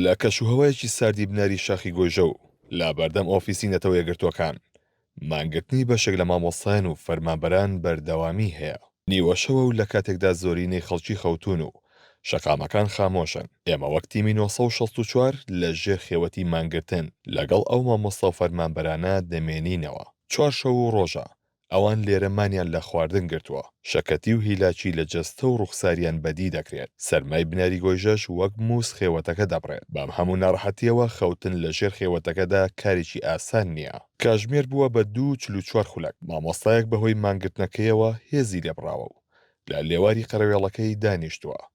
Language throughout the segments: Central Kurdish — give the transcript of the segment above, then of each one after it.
لە کەش و هەوایەکی ساردی بناری شاخی گۆیژە و لەبەردەم ئۆفیسی نەتەوە یەکگرتووەکان، مانگرتنی بەشێک لە مامۆستایان و فەرمانبەران بەردەوامیی هەیە. نیوەشەوە و لەکاتێکدا زۆرینەی خەڵکی خەوتوون و شەقامەکان خامۆشن، ئێمە وەک تیمی نۆ سەد و شەست و چوار لە ژێر خێوەتی مانگرتن لەگەڵ ئەو مامۆستا و فەرمانبەرانە دەمێنینەوە. چوارشەو و ڕۆژە ئەوان لێرە مانیان لە خواردن گرتووە، شەکەتی و هیلاکی لە جەستە و ڕوخساریان بەدی دەکرێت، سەرمای بناری گۆیژەش وەک مووس خێوەتەکە دەبڕێت، بەم هەموو ناڕەحەتییەوە خەوتن لە ژێر خێوەتەکەدا کارێکی ئاسان نییە. کاژمێر بووە بە دوو چل و چوار خولەک، مامۆستایەک بەهۆی مانگرتنەکەیەوە هێزی لێبڕاوە و لە لێواری قەرەوێڵەکەی دانیشتووە،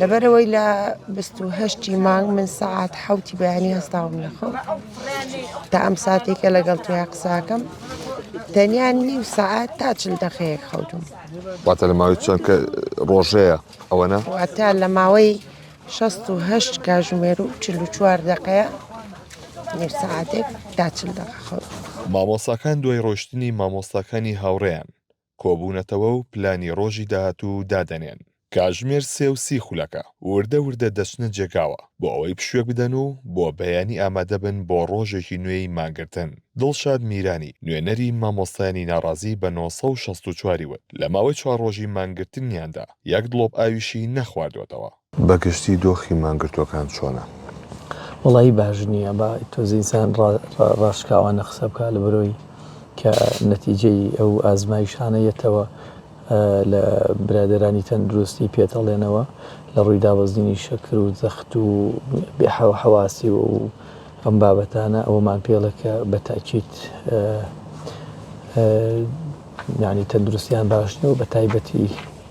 لەبەرئەوەی لە بیست و هەشت ی مانگ من سەعات حەوتی بەیانی هەستاوم لە خەو تا ئەم ساتێک کە لەگەڵ تۆیا قساکەم تەنیا نیو سەعات تا چل دەقەیەک خەوتم واتە لە ماوەی چەند کە ڕۆژەیە ئەوەنە واتە لە ماوەی 16 کاژمێر و 44 دقەیە نیو سەعاتێک تا چل دقە خەوتم. مامۆستاکان دوای ڕۆشتنی مامۆستاکانی هاوڕێیان کۆبوونەتەوە و پلانی ڕۆژی داهاتوو دادەنێن. کاژمێر سێ و سی خولەکە وردە وردە دەچنە جێگاوە بۆ ئەوەی پشوێک بدەن و بۆ بەیانی ئامادە بن بۆ ڕۆژێکی نوێی مانگرتن. دڵشاد میرانی، نوێنەری مامۆستایانی ناڕازی بە نۆ سەد و شەست و چوار ی وت، لە ماوەی چوار ڕۆژی مانگرتنیاندا یەک دڵۆپ ئاویشی نەخواردووەتەوە. بە گشتی دۆخی مانگرتووەکان چۆنە؟ وەڵایی باش نییە با تۆزێ ئینسان ڕاشکاوانە قسە بکا لە بەرۆی کە نەتیجەی ئەو ئازمایشانە یەتەوە لە برادەرانی تەندروستی پێتەڵێنەوە لە ڕووی دابەزینی شەکر و زەخت و حەواسی و ئەم بابەتانە ئەوەمان پێڵە کە بە تاکیت یعنی تەندروستیان باش نیە و بە تایبەتی